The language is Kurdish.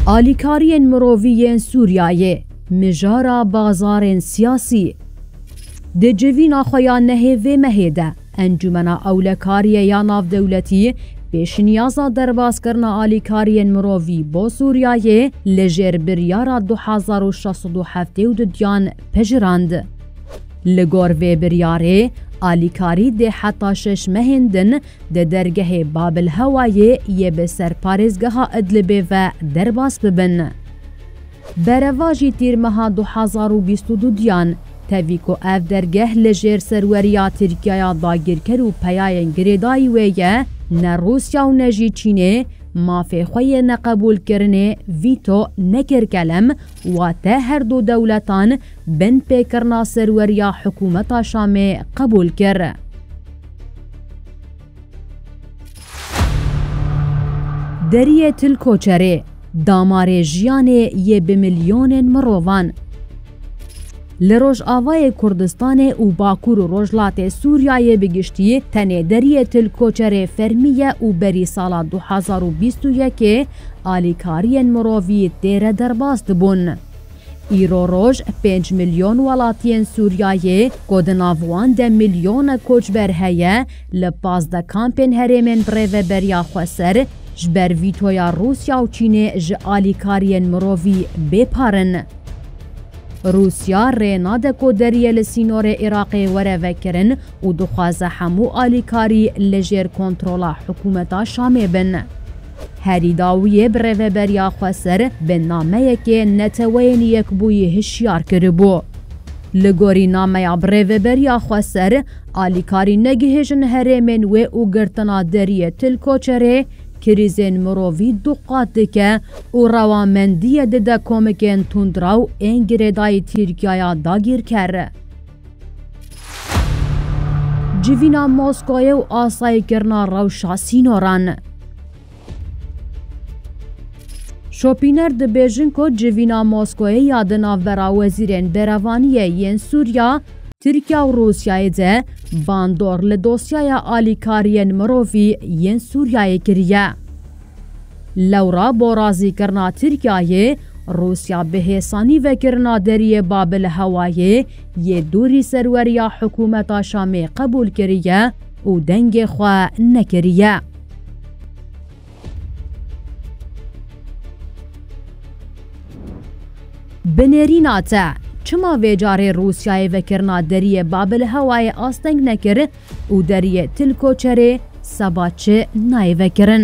Alîkariyên mirovî yên Sûriyeyê, mijara bazarên siyasî. Di civîna xwe ya nehê vê mehê de, Encûmena Ewlekariyê ya Navdewletî pêşniyaza derbazkirina alîkariyên mirovî bo Sûriyeyê li jêr biryara du hezar û şeş sed û heftê û du diyan pejirand. Li gor vê biryarê, alîkarî dê heta şeş mehên din di dergehê Babilhewayê yê bi ser parêzgeha Idlibê ve derbas bibin. Berevajî tîr meha du hezar û bîst û du diyan tevî ku ev dergeh li jêr serweriya Tirkiyaya dagîrker û peyayên girêdayî wê ye, ne Rûsya û ne jî Çînê mafê xwe yê neqebûlkirinê, vîto, nekir kelem, wate her du dewletan binpêkirina serweriya hikûmeta Şamê qebûl kir. Deriyê Tilkoçerê, damarê jiyanê yê bi milyonên mirovan. Li Rojavayê Kurdistanê û Bakur û Rojlatê Sûriyayê bi giştî tenê Deriyê Tilkoçerê fermî ye û berî sala du hezar û bîst û yekê alîkariyên mirovî têre derbas dibûn. Îro roj pênc milyon welatiyên Sûriyayê ku di nav wan de milyonek koçber heye, li pazdeh kampên herêmên birêveberiya xweser ji ber vîtoya Rûsya û Çînê ji alîkariyên mirovî bêpar in. Rûsya rê nade ku deriyê li sînorê Iraqê were vekirin û dixwaze hemû alîkarî li jêr kontrola hikûmeta Şamê bin. Herî dawiyê bi rêveberiya xwe ser bi nameyekê Neteweyên Yekbûyî hişyar kiribû. Li gorî nameya bi rêveberiya xwe ser, alîkarî negihêjin herêmên wê û girtina deriyê til koçerê krîzên mirovî du qat dike û rewamendiyê dide komikên tundraw ên girêdayî Tirkiyaya dagîrker. Civîna Moskoyê û asayîkirina rewşa sînoran. Şopîner dibêjin ku civîna Moskoyê ya di navbera wezîrên berevaniyê yên Sûriya, Tirkiya û Rûsyayê de bandor li dosyaya alîkariyên mirovî yên Sûriyayê kiriye. Lewra bo razîkirina Tirkiyeyê, Rûsya bi hêsanî vekirina Deriyê Babi li hewayê yê dûrî serweriya hikûmeta Şamê qebûl kiriye û dengê xwe nekiriye. Bi nêrîna te, çima vê carê Rûsyayê vekirina Deriyê Babi li hewayê asteng nekir Û deriyê til koçerê seba çi nayê vekirin.